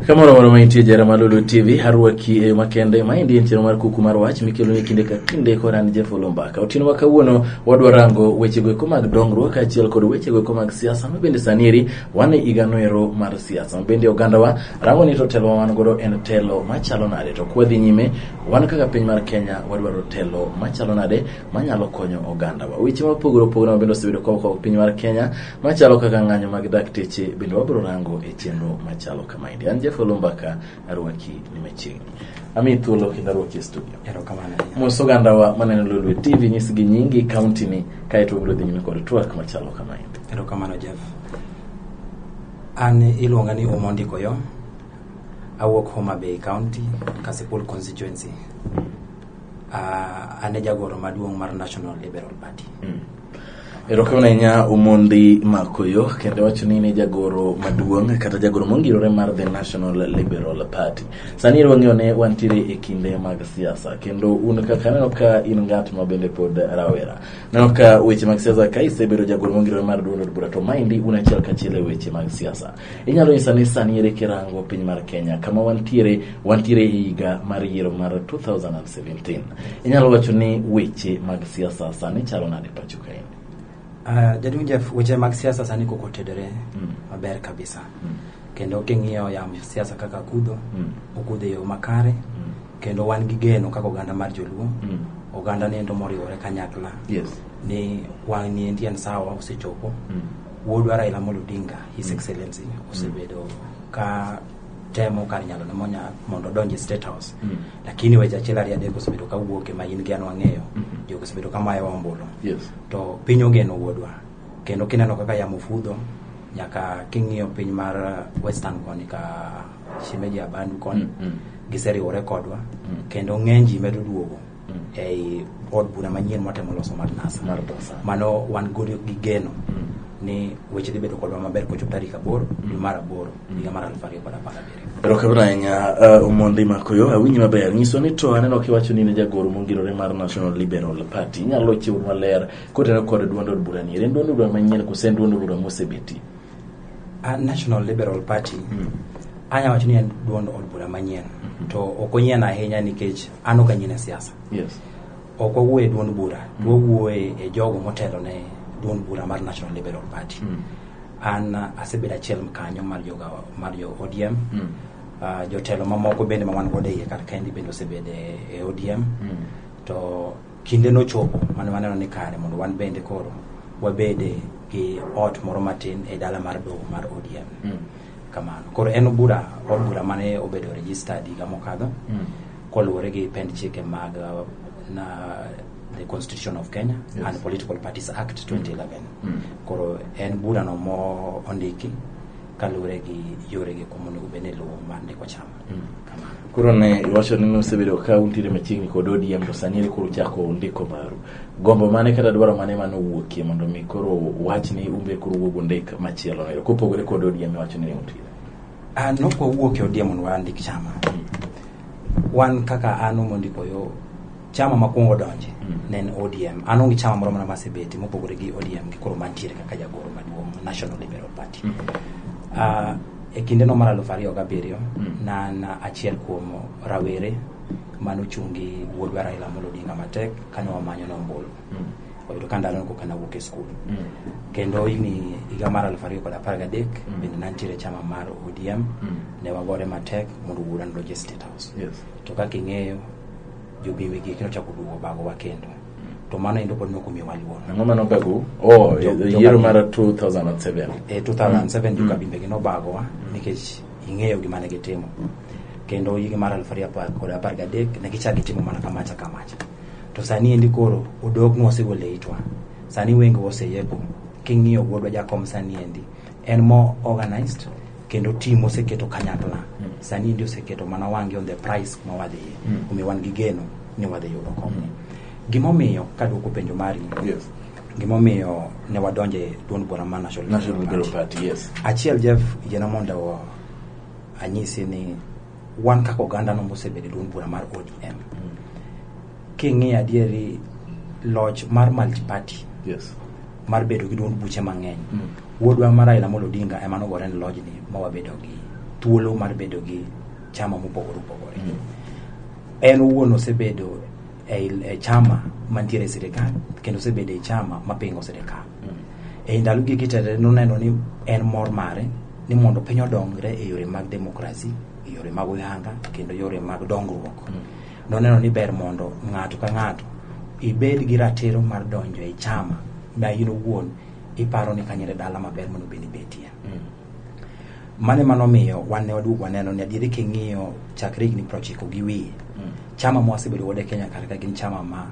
Kamoro moro maintie jara ma Lulu TV harwaki e yo makende. Maendi en chenro mar kuku mar wach mikelo ni kinde ka kinde koran Jeff Olumbaka. Otieno ma kawuono Wadwa rango wechego eko mag dongruok kaachiel kod wechego eko mag siasa ma bende sani eri wan e higano ero mar siasa ma bende ogandawa rango ni to telo ma wan godo en telo machalo nade to kwadhi nyime wan kaka piny mar Kenya wadwaro telo machalo nade manyalo konyo ogandawa weche mopogore opogore ma bende osebedo ka okawo piny mar Kenya machalo kaka ng'anyo mag dakteche bende wabiro rango e chenro machalo kamaendi an Jeff Olumbaka arwaki ni machiegni ami thuolo kendo arwaki e studio erokamano ahinya mos ogandawa maneno lolwe tv nyisgi nyingi kauntini kaeto wabiro dhi nyime kod twak machalo kamaendi erokamano jeff an iluonga ni omondi koyo awuok homa bay county kasipul constituency uh, an e jagoro maduong' mar national liberal party mm. Erokamano ahinya Omondi Makoyo kendo wacho ni ne jagoro maduong' kata jagoro mongirore mar The National Liberal Party. Sani ero wang'eyo ne wantiere e kinde mag siasa kendo un kaka aneno ka in ng'at ma bende pod rawera. Aneno ka weche mag siasa ka isebedo jagoro mongirore mar duond od bura to maendi un achiel kachiel e weche mag siasa. Inyalo nyisa ni sani ere kirango piny mar Kenya kama wantiere wantiere e higa mar yiero mar 2017. Inyalo wacho ni weche mag siasa sani chalo nade pacho kaendi? Uh, jaduong' Jeff, weche mag siasa sani koko otedore Mm. maber kabisa Mm. kendo king'iyo yam siasa kaka kudho Mm. okudho e yo makare Mm. kendo wan gi geno kaka oganda mar joluo Mm. oganda niendo moriwore kanyakla Yes. ni wang' niendi en sawa osechopo Mm. Wuodwa Raila Amolo Odinga, His mm. Excellency, mm. osebedo ka temo kar nyalo ne monya mondo odonje State House. Mm. Lakini weche achiel ariyo adek osebedo ka wuok ema in gi an wang'eyo. Mm-hmm. Jogo osebedo ka mayo ombulu. Yes. To piny ogeno wuodwa. Kendo kineno kaka yamo fudho nyaka king'iyo piny mar uh, Western koni ka Shimeji Abandu koni. Mm -hmm. Giseriwore kodwa. Mm. Kendo ng'eny ji medo duogo. ei od bura manyien mwatemo loso mar NASA. Mar NASA. Mano wan godi gi geno ni weche dhi bedo kodwa maber kochop tarik aboro dwe mar aboro higa mar aluf ariyo kod apar gabiriyo. Erokamano ahinya uh, Omondi Makoyo, awinji maber. Nyiso ni to aneno kiwacho ni ne jagoro mongirore mar National Liberal Party. Inyalo chiwo maler kotenore kod duond od bura ni. En duond od bura manyien kose en duond od bura mosebeti? A National Liberal Party mm. anya wacho ni en duond od bura manyien mm-hmm. to ok onyien ahinya nikech an ok anyien e siasa yes. ok wawuoye e duond bura mm. wawuoye e jogo motelo ne duond bura mar National Liberal Party mm. an uh, asebedo achiel kanyo mar joga mar jo ODM mm. uh, jotelo mamoko bende ma wan godo e iye kar kaendi bende osebedo e, e ODM mm. to Kinde nochopo mane waneno ni kare mondo wan bende koro wabede gi ot moro matin e dala mar doho mar ODM. Mm. Kamano. Koro en bura od bura mane obedo registered higa mokadho mm. koluwore gi pend chike mag uh, na the Constitution of Kenya yes. and Political Parties Act 2011. Mm. Mm. Koro en bura no mo ondiki kaluwore gi yore gi kumonego bed ni luwo mar ndiko chama. koro ne iwacho ni nosebedo ka untiere machiegni kod ODM to sani ere koro uchako ndiko baru gombo mane kata dwaro mane mane owuokie mondo mi koro wach ni umbe koro wuog undik machielo no kopogore kod ODM iwacho ni ne untiere an ok wawuok e ODM mondo wandik chama wan kaka an mondiko yo chama makwongo donje mm. ne en odm an onge chama moro mana masebeti mopogore gi odm gi koro mantiere kaka jagoro maduong national liberal party mm. uh, e kinde no mar aluf ariyo gabiriyo mm. nan achiel kuom rawere mane ochung' gi wuodwa raila amolo odinga matek kane wamanyo nombolo mm. oyudo ka ndalo koka nawuok e skul mm. kendo higni higa mar aluf ariyo kod apar gadek mm. bende nantiere chama mar odm mm. ne wagore matek mondo wuoda nodonj e state house yes. to kaka ing'eyo jobiwi gik nochako duogo bagowa kendo to mano endo pod nokomiyowa luoro ang'o mane obagu oh Jo- e- jo- yiero mar 2007 e 2007 jo kabinde gi nobagowa nikech ing'eyo gima ne gitimo kendo higa mar aluf ariyo apar kod apar gadek ne gichak gitimo mana kamacha kamacha to sani endi koro odok nwa osegole itwa sani wenge oseyepo king'iyo wuodwa jakom sani endi en more organized kendo team oseketo kanyakla mm. sani ndi oseketo mana wangi on the price ma wadhi mm. omiyo wan gi geno ni wadhi yudo kony mm. gimomiyo kaduoko penjo mari yes. gimomiyo ne wadonje duond bura ma national, national party. Party, yes. achiel jeff yiena mondo anyisi ni Wan kaka oganda no mosebedo e duond bura mar ODM, king'iyo adieri loch mar multiparty Yes. mar bedo gi duond buche mang'eny Mm. wuodwa ma Raila Amolo Odinga ema nogore ni lojni ma wabedo gi thuolo mar bedo gi chama mopogore opogore Mm. en owuon osebedo e, e chama mantiere e sirikal kendo osebedo e chama mapingo sirikal ei ndalo gigi tete noneno ni en mor mare ni mondo piny odongre e yore mag demokrasi e yore mag oyanga kendo yore mag dongruok noneno ni ber mondo ng'ato ka ng'ato ibed gi ratiro mar donjo e chama ma in owuon iparo ni kanyo e dala maber mondo bende ibetie mane mano miyo wan ne waduogo waneno ni adieri king'iyo chakre higni prochiko gi wiye mm. chama ma wasebedo godo e kenya kar ka gin chama ma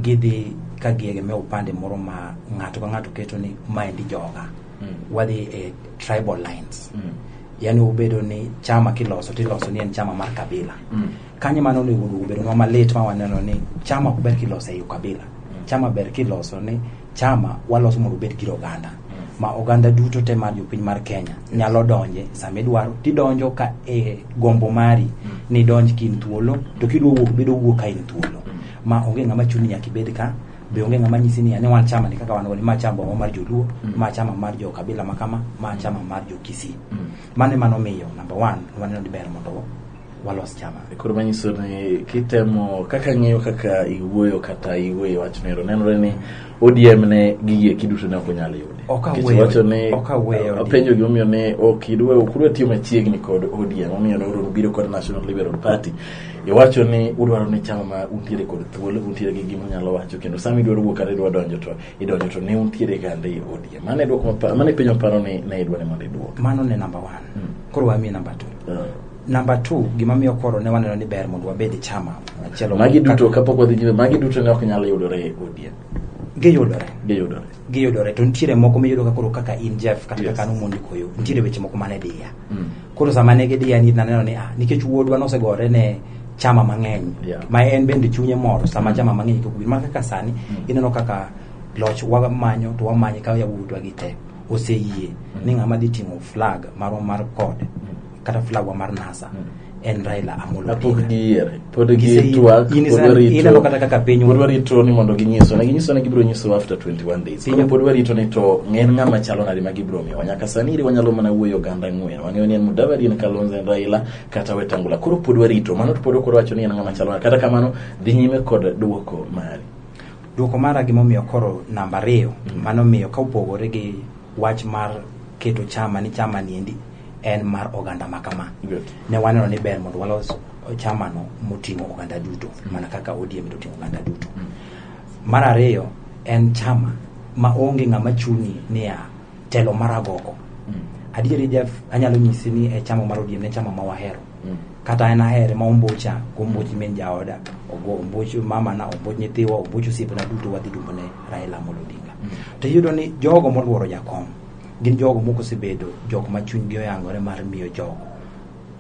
gidhi ka giegemea upande moro ma ng'ato ka ng'ato keto ni maendi joga mm. wadhi e tribal lines mm. yani ubedo ni chama kiloso tiloso ni en chama mar kabila mm. Kanye mano onego obedonwa malit ma waneno ni chama ok ber kiloso e ukabila. Mm. Chama ber kiloso ni chama waloso mondo obed gir oganda mm. ma oganda duto te mar jopiny mar Kenya nyalo donje sama idwaro tidonjo ka e gombo mari mm. ni donj kin thuolo to kidwa wuok bedo wuok ka in thuolo ma onge ng'ama chuni nyaka ibed ka be onge ng'ama nyisi ni ane wan chama ni kaka wan ni ma chama mar joluo mm. ma chama mar jo kabila makama ma chama mar jo kisii mm. mane mano miyo number one waneno ni ber mondo walos chama. Koro manyiso ni kitemo kaka ng'iyo kaka iwuoyo kata iwuoyo wachno ero nenore ni ODM ne gigie kiduto ne ok onyal yude. Ok Nikech aweyo- wacho ni ok aweyo apenjo gimomiyo ne ok idwa ok udwa tiyo machiegni kod ODM omiyo ne uru biro kod National Liberal Party. Iwacho ni udwaro ni chama ma untiere kod thuolo untiere gi gima unyalo wacho kendo sama idwaro wuok kata idwa donjo to idonjo to ne untiere kande e ODM. Mane dwoko mapa- mane penjo maparo ni ne idwa ni mondo idwok. Mano ne number one. Koro wamie number two. Uh, Namba 2 gima miyo koro ne waneno ni ber mondo wabed e chama machielo. Magi duto kapok wadhi nyime, magi duto ne ok nyal yudore e ODM. Giyudore. Giyudore. Giyudore to nitiere moko miyudo ka koro kaka in Jeff kata yes. kaka nomondi koyo mm. nitiere weche moko mane diya. Mm. Koro sama ne gidiya ni naneno ni ah nikech wuodwa nosegore ne chama mang'eny yeah. ma en bende chunye moro sama mm. chama mang'eny kok ma kaka sani mm. ineno kaka loch wamanyo to wamanye ka yawuodwa gi te oseyie mm. ni ng'ama dhi ting'o flag marwa mar kod mm. kata flagwa mar nasa en raila amolo Odinga. pod giyiere pod Gise- gitwak in is- pod warito- ineno kata kaka piny pod warito ni mondo ginyiso ne ginyiso ne gibiro nyiso after 21 days Piny- koro pod warito ni to ng'en ng'ama chalo nade ma gibiro miyowa nyaka sani iri wanyalo mana wuoyo oganda ang'wen wang'eyo ni en mudavadi en kalonzo en raila kata wetangula koro pod warito mano to pod ok wacho ni en ng'ama chalo nade kata kamano dhi nyime kod duoko mari duoko mara gimomiyo koro namba ariyo mano miyo ka opogore gi wach mar keto chama ni chama niendi en mar oganda ma kama Good. ne waneno ni ber mondo walos chamano moting'o oganda duto mana kaka ODM toting'o oganda duto mar ariyo en chama ma onge ng'ama chuni niya telo mar agoko adieri Jeff anyalo nyisi ni e chama mar ODM ne chama ma wahero kata an ahere ma ombocha gomboch min jaoda ogo omboch mamana omboch nyithiwa omboch osiepena duto wadhi dumbone Raila Amolo Odinga to iyudo ni jogo moluoro jakom gin jogo moko osebedo jok ma chunygi oyangore mar miyo jogo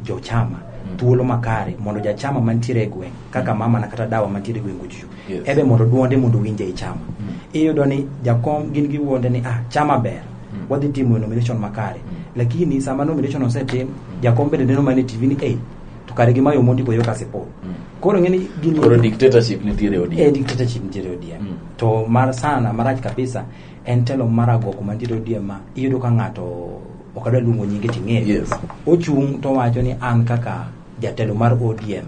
jochama mm. thuolo makare mondo jachama mantiere e gweng' kaka mama na kata dawa mantiere e gweng' ojuju yes. ebe mondo duonde mondo winje i chama mm. iyudo ni jakom gin giwuonde ni ah chama ber mm. wadhi timo nomination makare mm. lakini sama nomination osetim mm. jakom bende neno mane tv ni ei to kare gi mayo mondi boyo kasi po mm. koro ng'eni gini koro dictatorship nitiere odm eh dictatorship nitiere odm mm. to mar sana marach kabisa en telo mar agoko mantiere ODM ma iyudo ka ng'ato ok adwa luongo nyinge ting'eyo Yes. ochung' to wacho ni an kaka jatelo mar ODM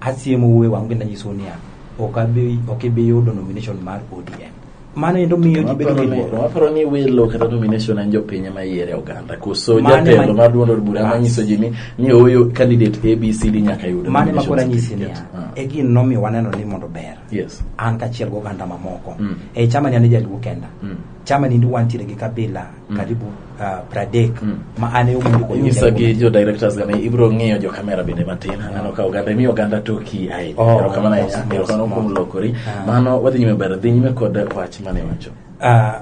asiemo wuoe wang' kendo anyiso niya ok abi ok ibi yudo nomination mar ODM mano endo miyo ji bedo gi luoro waparo ni welo kata nomination en jopiny ema yiere oganda koso Mane jatelo ma- mar duond od bura Bas. manyiso ji ni ni oyo candidate abcd nyaka yud mane nomination makoro anyisi certificate. niya Ah. e gino nomiyo waneno ni mondo ber Yes. an kachiel gi oganda mamoko Mm. e chama ni an jaluo kenda Mm. chama ni ndi wantiere gi kabila karibu uh, pradek Mm. ma an e omundi kod nyisa gi jaluo. jo directors gani ibiro ng'iyo jo kamera bende matin aneno ka oganda imiyo oganda toki ahinya Oh, erokamano ahinya mos, mos, erokamano kuom mos. lokori Ah. mano wadhi nyime ber dhi nyime kod wach mane wacho Ah,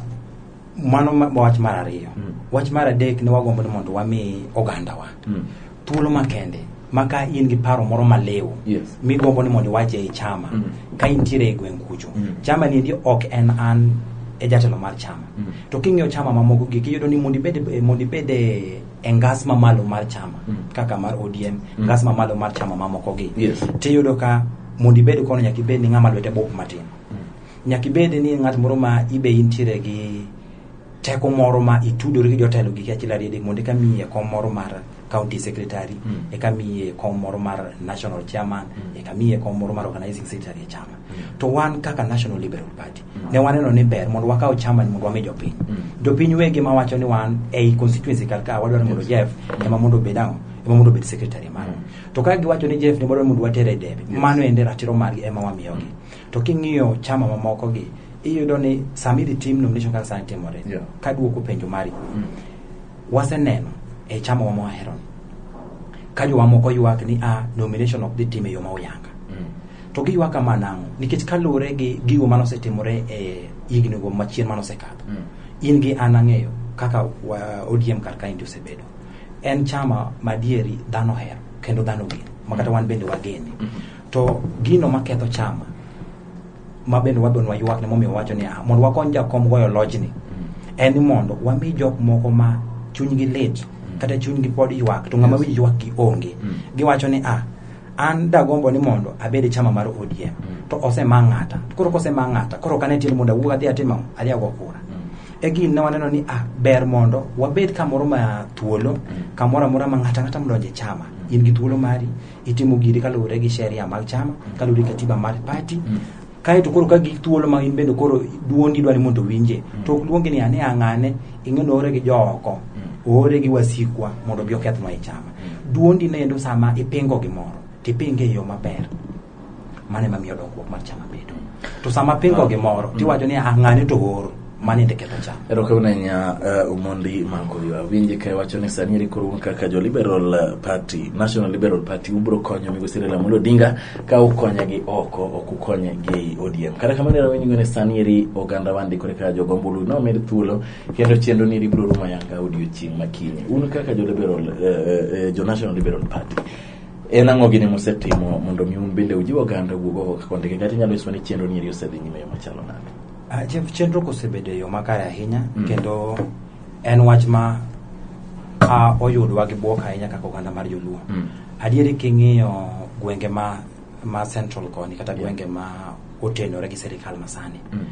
mano ma- wach mar ariyo Mm. wach mar adek ne wagombo ni mondo wami ogandawa Mm. thuolo makende ma ka in gi paro moro maliw Yes. migombo ni mondo iwache ei chama Mm. ka intiere e gweng' kucho Mm. chama niendi ok en an e jatelo mar chama Mm. to king'iyo chama mamoko gi kiyudo ni mondo ibed eh, mondo ibed eh, e ngas mamalo mar chama Mm. kaka mar odm Mm. ngas mamalo mar chama mamoko gi Yes. tiyudo ka mondo ibed kono nyaka ibed ni ng'ama lwete bop matin nyaka ibed ni ng'at moro ma ibe intiere gi teko moro ma itudori gi jotelo gi achiel ariyo adek mondo eka miyi e kom moro mar county secretary Mm. eka miyi e kom moro mar national chairman Mm. eka miyi e kom moro mar organizing secretary e chama Mm. to wan kaka national liberal party Mm. ne waneno ni ber mondo wakaw chama ni mondo wami jopiny Mm. jopiny wegi ma wacho ni wan ei constituency kar ka wadwaro ni mondo Yes. jeff ema mondo obed ang'o ema mondo obed secretary mano Mm. to ka giwacho ni jeff ni wadwaro ni mondo watere e debe Yes. mano ende ratiro margi ema wamiyogi To king'iyo chama mamoko gi, iyudo ni sama idhi tim nomination kaka sani timore, Yeah. ka duoko penjo mari, waseneno e chama wama waherono ka jowa moko ywak ni a nomination ok dhi tim e yo ma oyanga to giywak kama nang'o nikech kaluwore gi gigo mane osetimore e higni go machien mane osekadho in gi an ang'eyo kaka wa- odm kar kaendi osebedo en chama madieri dhano hero kendo dhano geno makata wan bende wagene to gino maketho chama ma bende wabende waywakne momiyo wacho ni ah, mondo wakony jakom goyo lojni en ni mondo wami jok moko ma chunygi lit kata chunygi pod ywak to ng'ama winjo ywakgi onge Mm. giwacho ni ah an dagombo ni mondo abed e chama mar odm to osema ng'ata To koro kosema ng'ata koro kane tiende mondo awuog adhi atim ang'o? adhi ago kura e gini ne waneno ni ah ber mondo wabed kamoro ma thuolo kamoro amora ma ng'ata ng'ata modonje chama in gi thuolo mari Itimo giri kaluwore gi sheria mag chama, kaluwore gi katiba mar party. Kae to koro ka gik thuolo ma in bende koro duondi dwani mondo owinje. To ok luongi ni ane ang'ane, ing'e ni oore gi jooko, oore gi wasikwa mondo obi okethnwa e chama. Duondi ne endo sama ipingo gimoro, tipinge e yo maber. mano ema miyo dongruok mar chama bedo to sama pingo ah. gimoro mm. tiwacho ni ah, ng'ane to oro mano ende ketho cham erokamano ahinya uh, omondi mango ywa winje ka iwacho ni sani eri koro kaka jo liberal uh, party national liberal party ubiro konyo migosi Raila Amolo Odinga ka ukonye gi oko ok ukonye gi ODM kata kamano era winjgo ni sani eri oganda wandi kore ka jogombulu nomed thuolo kendo chenro ni eri biro rumo yanga odiochieng' makinye un kaka jo liberal uh, uh, uh, jo national liberal party En ang'o gini musetimo mondo mi un bende ujiw oganda wuog oko kaka ondike kata inyalo nyiswa ni chenro ni eri osedhi nyime yo machalo nade? Ah, chen- chenro kosebedo e yo makare ahinya Mm. kendo en wach ma ah, oyudwa gi bwok ahinya kaka oganda mar joluo Mm. adieri king'iyo gwenge ma ma central koni kata Yeah. gwenge ma otenore gi sirikal masani Mm.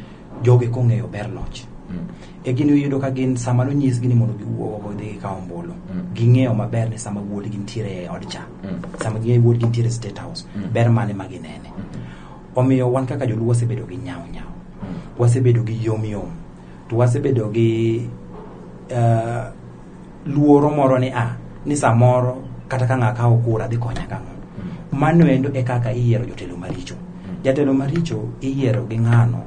joge kong'eyo ber loch mm. e gini uyudo ka gin sama nonyisgi ni mondo giwuogo dhi gikaw ombulu mm. ging'eyo maber ni sama wuodgi nitiere e od cha mm. sama ging'eyo wuodgi nitiere e state house ber mane ma ginene omiyo wan kaka joluo wasebedo gi nyawo nyawo wasebedo gi yom yom to wasebedo gi uh, luoro moro ni a ah, ni samoro kata ka ng'aka okura dhi konya kang'o mm. mano endo e kaka iyiero jotelo maricho mm. jatelo maricho iyiero gi ng'ano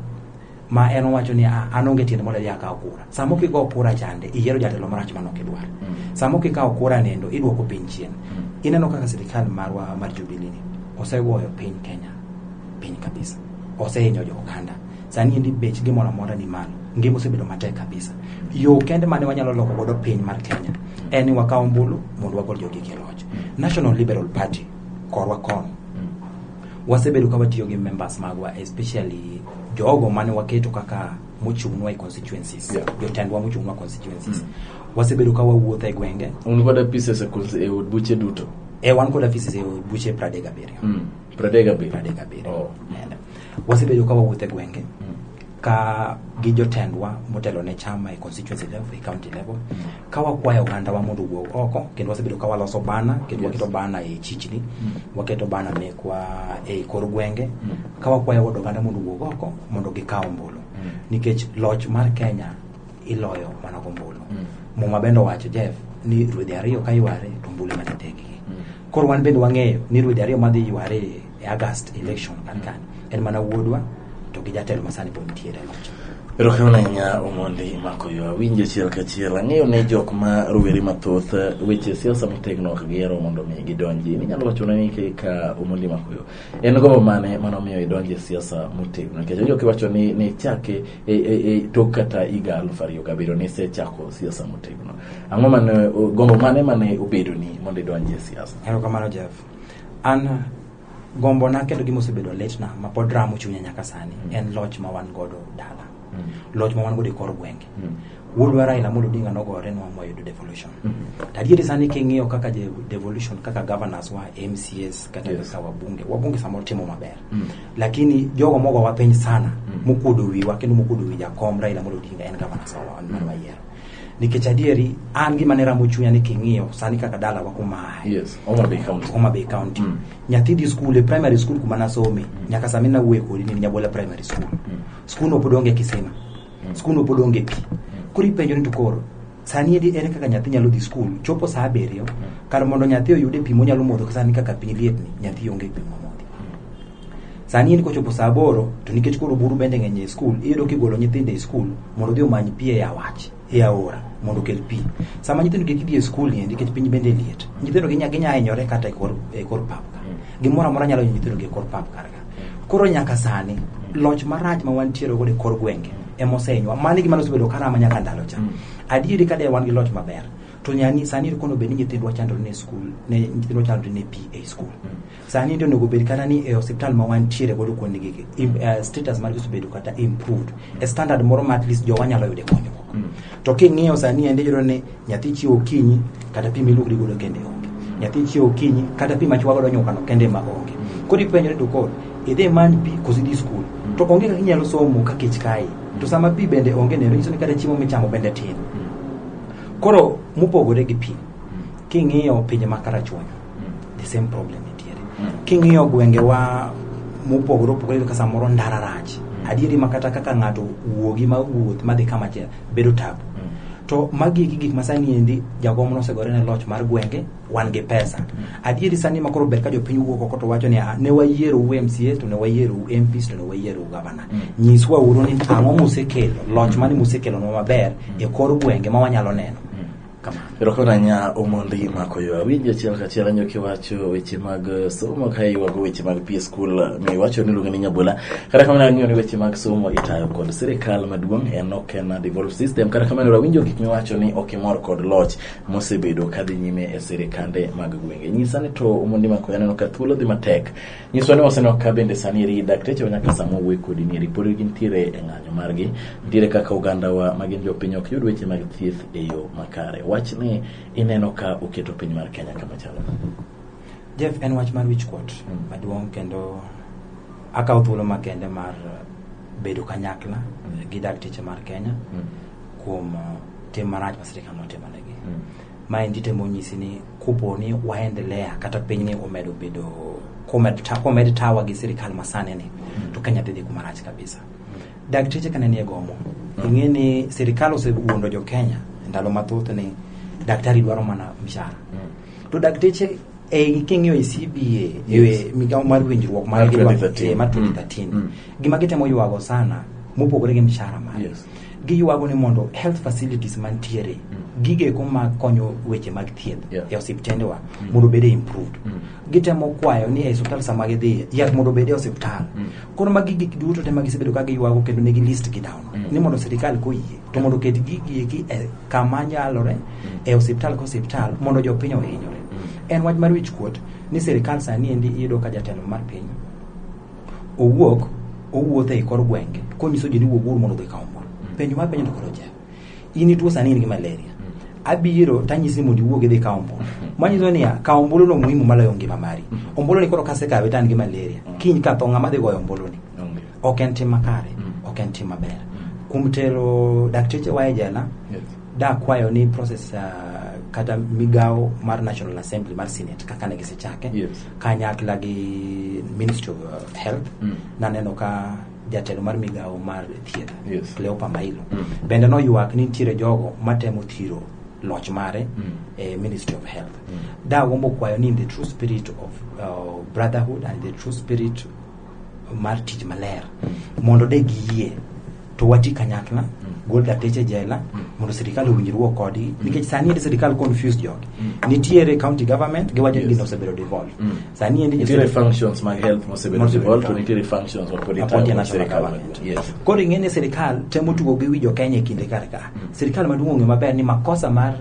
ma en owacho ni ah, an onge tiende mondo adhi akaw kura sama ok igo kura chande iyiero jatelo marach mano ok idwar mm. sama ok ikawo kura nendo idwoko piny chien ineno kaka sirikal marwa mar jubilini osegoyo piny kenya piny kabisa osehinyo jo oganda Sani endi bech gimoro amora ni malo. Ngima osebedo matek kabisa. Yo kende mane wanyalo loko godo piny mar Kenya en ni wakaw ombulu mondo wagol jogi e loch. National Liberal Party korwa kono wasebedo ka watiyo gi members magwa especially jogo mane waketo kaka mochung'nwa e constituencies Yeah. jotendwa mochung'nwa constituencies wasebedo ka wawuotho e gwenge un kod apises e kul- e od buche duto e wan kod afisi e buche pradek abiriyo Mm. pradek abiriyo pradek abiriyo Oh. And wasebedo ka wawuotho e gwenge ka gi jotendwa motelo ne chama e constituency level e county level ka wakwayo ogandawa mondo owuo oko kendo wasebedo ka waloso bana kendo waketo bana e chichni waketo bana mekwa e kor gwenge ka wakwayo od oganda mondo owuog oko mondo gikaw ombulu nikech loch mar kenya iloyo mana gombulu muma bende owacho jeff ni ruedhi ariyo ka yware to ombulu ema tetegi koro wan bende wang'eyo ni ruedhi ariyo madhi yware e August election kan kan en mana wuodwa to gi jatelo masani pod nitiere e loch Erokamano ahinya Omondi mako yo awinjo achiel kachiel ang'eyo ni jok ma rowere mathoth eh, weche siasa motegno ok gihero mondo mi gidonji ninyalo wachona ni kaka Omondi mako yo en gombo mane mano miyo idonjo e siasa motegno nikech onjo kiwacho ni ni chake e, e, e, tok kata higa aluf ariyo gabiriyo ni isechako siasa motegno ang'o mane o- gombo mane mane obedoni mondo idonji e siasa Erokamano Jeff. an gombona kendo gima osebedo litna ma pod ramo chunya nyaka sani mm. en loch ma wan godo dala mm. loch ma wan godo e kor gwenge mm. wuodwa Raila Amolo Odinga nogore nwa moyudo devolution mm -hmm. tadieri sani king'iyo kaka devolution kaka governors wa MCS kata yes. kaka wabunge wabunge samoro timo maber mm -hmm. lakini jogo mogo wapiny sana mm -hmm. mokuodo wiwa kendo mokuodo wi jakom Raila Amolo Odinga en governors wa mm -hmm. nikech adieri an gima ne ramo chunya ni king'iyo sani kaka dala wa kuma aye Yes, Homa Bay County. Homa Bay County Mm. nyathi dhi skul e primary school kuma nasome nyaka sami nawuoye kodi ni Nyabola primary school skul no pod onge kisima skul no pod onge pi koro ipenjo ni to koro sani edi ere kaka nyathi nyalo dhi skul chopo saa abiriyo kar mondo nyathi oyude pi monyalo modho sani kaka piny lietni nyathi onge pi momodho Sani in kochopo saa aboro to nikech koro buru bende ng'eny e skul, iyudo kigolo nyithindo e skul mondo odhi omany pi e awach e aora mondo okel pi. Sama nyithindo gi gidhi e skul ni nikech piny bende liet, nyithindo ginya ginya hinyore kata e kor e kor pap ka. Gimoro amora nyalo hinyo nyithindo gi e kor pap kar ka. Koro nyaka sani loch marach ma wantiere godo e kor gwenge ema osehinywa. Mano e gima nosebedo karama nyaka ndalo cha. Adieri ka de wan gi loch maber to nyani sani kono bed ni nyithindwa chandore ne skul ne nyithindwa chandore ne pi e skul. sani to onego bed kata ni e hospital ma wantiere godo kuonde gigi im- eh, status margi osebedo kata improved e standard moro ma at least jowa nyalo yude konyruok to king'iyo sani ende yudo ni nyathi chiewo okinyi kata pi miluokri godo kende onge nyathi chiewo okinyi kata pi machwa godo nyukano kende ma onge koro ipenjore to koro idhi imany pi koso idhi skul to onge kaka inyalo somo ka kech kae to sama pi bende onge neno nyiso ni kata chiemo michamo bende tin koro mopogore gi pi king'iyo pinje ma karachuonyo the same problem nitiere king'iyo gwengewa mopogore opogore ka samoro ndara rach adieri ma kata kaka ng'ato wuogi ma wuoth madhi kama chiel bedo tabu to magi eki gik ma sani endi jakom nosegore ne loch mar gwenge wan gi pesa adieri sani ma koro ber ka jopiny wuok oko to wacho ni "Ah, ne wayiero u mca to ne wayiero u mps to ne wayiero u gavana nyiswa uru ni ang'o musekelo loch mane musekelonwa maber e kor gwenge ma wanyalo neno Erokamano ahinya Omondi mako yo awinjo achiel kachiel anyo kiwacho weche mag eh, somo ka iwago weche mag pie skul eh, miwacho ni iluongo ni nyabola kata kamano ang'eyo ni weche mag somo itayo kod sirikal maduong' en ok en devolve system kata kamano ero awinjo gik miwacho ni ok imor kod loch mosebedo kadhi nyime e sirikande mag gwenge nyisa ni to Omondi mako yo aneno ka thuolo dhi matek Nyiswa ni wasenok ka bende sani eri dakteche wa nyaka sama owuoyo kodi ni eri pod gintiere e ng'anyo margi nitiere kaka ogandawa ma gin jopiny ok yud weche mag thieth e yo makare wach ni ineno ka oketo piny mar kenya kama chalo Jeff en wach mar wichkuot Mm. maduong' kendo akawo thuolo makende mar bedo kanyakla Mm. gi dakteche mar Kenya Mm. kuom uh, tim marach ma sirikal notimonegi. Mm. Maendi temo nyisi ni kopo ni waendelea kata pinyni omedo bedo komed ta- komed tawa gi sirikal masani ni to Kenya dhi dhi kuma rach kabisa. Dakteche kane nie gomo, ing'e ni sirikal osewuondo jo Kenya ndalo mathoth ni daktari dwaro mana mshahara. To dakteche e king'iyo e CBA Yes. e migawo mar winjruok mar Mar 2013. eh, mar 2013 Mm. gima gitemo ywago sana mopogore gi mshahara mare Yes. giywago ni mondo health facilities mantiere mm. gigeko ma konyo weche mag thieth yeah. e osiptendewa mm. mondo obede improved mm. gitemo kwayo ni e osiptal sama gidhiye yath mondo obede osiptal mm. koro magi gik duto te ma gisebedo ka giywago kendo negi list gi down mm. ni mondo sirikal koyie to mondo oket gigieki e kama nyalore mm. e osiptal ka osiptal mondo jopiny ohinyore mm. en wach mar wich kuot ni sirikal sani endi iyudo ka jatelo mar piny owuok owuotho e kor gwenge konyiso ji ni wuoguru mondo udhi kawo mor penjo mar penjo to koro jep in ituo sani in gi malaria abiro tanyisi mondo iwuog idhi kawo ombulu manyiso niya kawo ombulu no muhimu maloyo ngima mari ombulu ni koro kasekawe to an gi malaria kiny ka tho ng'ama dhi goyo ombulu ni Onge. ok en tim makare Mm. ok en tim maber kuom tero dakteche wa e jela Yes. da kwayo ni process uh, kata migawo mar national assembly mar senate kaka ne gisechake Yes. kanyakla gi ministry of uh, health Mm. naneno ka jatelo mar migawo mar thieth Yes. cleopa mailo Mm. bende noywak ni nitiere jogo matemo thiro loch mare Mm. e ministry of health Mm. dagombo kwayo ni in the true spirit of uh, brotherhood and the true spirit mar tich maler mondo de giyie to wati kanyakla gol dateche jela mondo sirikal owinjruok kodgi nikech sani endi sirikal confused jogi nitiere county government giwacho ni gino osebedo devolve sani endi nitiere josirikal- functions mag health mosebedo Mosebedo devolved to devolved. nitiere functions mapod Appointed itayo kod national sirikal government. maduong' yes koro ing'e ni sirikal temo tugo gi wi jokenya e kinde kar ka sirikal maduong' ong'e maber ni makosa mar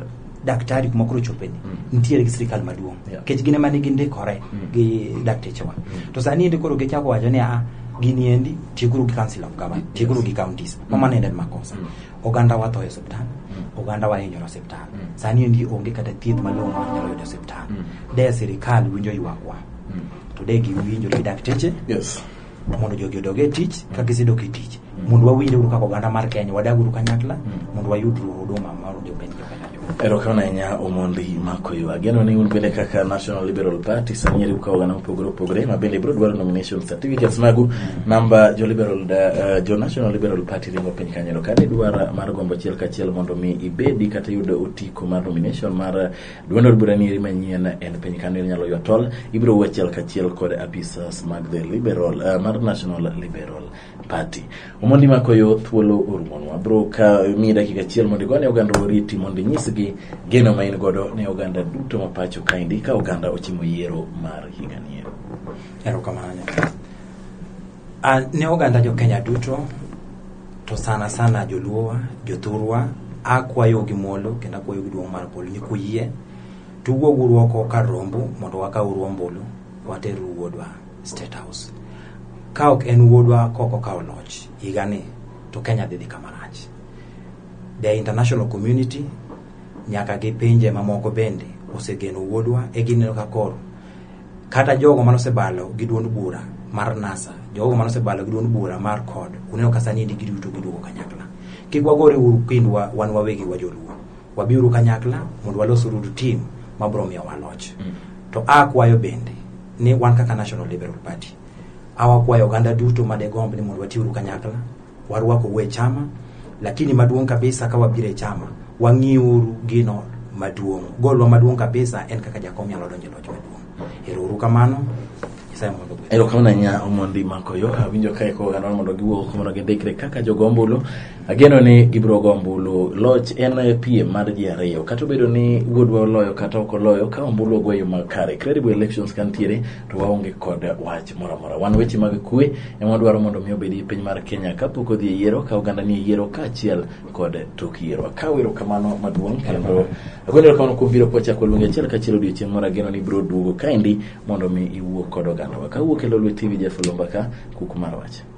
daktari kuma koro chopeni mm. nitiere gi sirikal maduong' nikech yeah. gin ema nigi ndikore mm. gi daktechewa mm. to sani endi koro gichako wacho ni a ah, gini endi tieguru gi council of government yes. tieguru gi counties mm. mamano endi en makosa mm. oganda wa tho e osiptal mm. oganda wa hinyore osiptal mm. sani endi onge kata thieth malong'o ma nyalo yudo osiptal mm. de sirikal winjo ywakwa mm. to de giwinjo gi dakteche yes. mondo jogi odog e tich ka gisedok e tich mondo wawinj uru kaka oganda mar kenya wadag uru kanyakla mondo wayud ru huduma mar jopiny jokanyakla erokamano ahinya omondi makoyo ageno ni un bende kaka national liberal party samieri ukawo oganda mopogore opogore ma bende ibiro dwaro nomination certificates magu namba jo liberal da- eh, jo national liberal party ringo piny kanyero kane idwara mar gombo achiel kachiel mondo mi ibedi kata iyud otiko mar nomination mar Duond od bura nieri manyien en piny kano inyalo ywa tol ibiro wuo achiel kachiel kod apisas mag the liberal uh, mar national liberal party omondi makoyo thuolo orumonwa bro ka mi dakika achiel mondo igone oganda oriti mondo inyisgi geno ma in godo ne oganda duto ma pacho kaendi ka oganda ochimo yiero mar higani erokamano A, ne oganda jo Kenya duto to sana sana joluowa jothurwa akwayo gi muolo kendo akwayo gi duong' mar polo ni kuyie to uwuog uru oko kar rombu mondo wakaw uru ombulu water uru wuodwa state house ka ok en wuodwa ka ok okawo loch higani to Kenya dhi dhi kama rach the international community nyaka gi pinje mamoko bende osegeno wuodwa e gineno ka koro kata jogo mane osebalo gi duond bura mar NASA, jogo mane osebalo gi duond bura mar CORD, uneno ka sani endi giduto giduogo kanyakla. Kik wagore uru kindwa wan wawegi wa joluo. Wabiuru kanyakla mondo walos uru team ma biro miyo waloch. To a kwayo bende ni wan kaka National Liberal Party, a wakwayo oganda duto ma degomb ni mondo watiuru kanyakla warwako we chama lakini maduong' kabisa ka wabiro e chama wang'iuru gino maduong' golwa maduong' kabisa en kaka jakom nyalo donjo e loch maduong' erouru kamano nyasaye mondo ogwedhu. erokamano ahinya omondi makoyo awinjo ka eko oganda mondo giwuok mondo gindikre kaka jogo ombulu ageno ni gibiro go ombulu loch en e piem mar ji ariyo kata obedo ni wuodwa oloyo kata ok oloyo ka ombulu ogweyo makare credible elections kantiere to waonge kod wach moro amora wan weche mag kwe ema wadwaro mondo mi obedi e piny mar kenya kapok odhi e yiero ka oganda ni e yiero kaachiel kod tok yiero akawo erokamano maduong' kendo agoyo erokamano kuom biro kwachako luongi achiel kachiel odiochieng' moro ageno ni biro duogo kaendi mondo mi iwuo kod ogandawa kawuok e lolwe tv jeff olomba ka kuku mar wach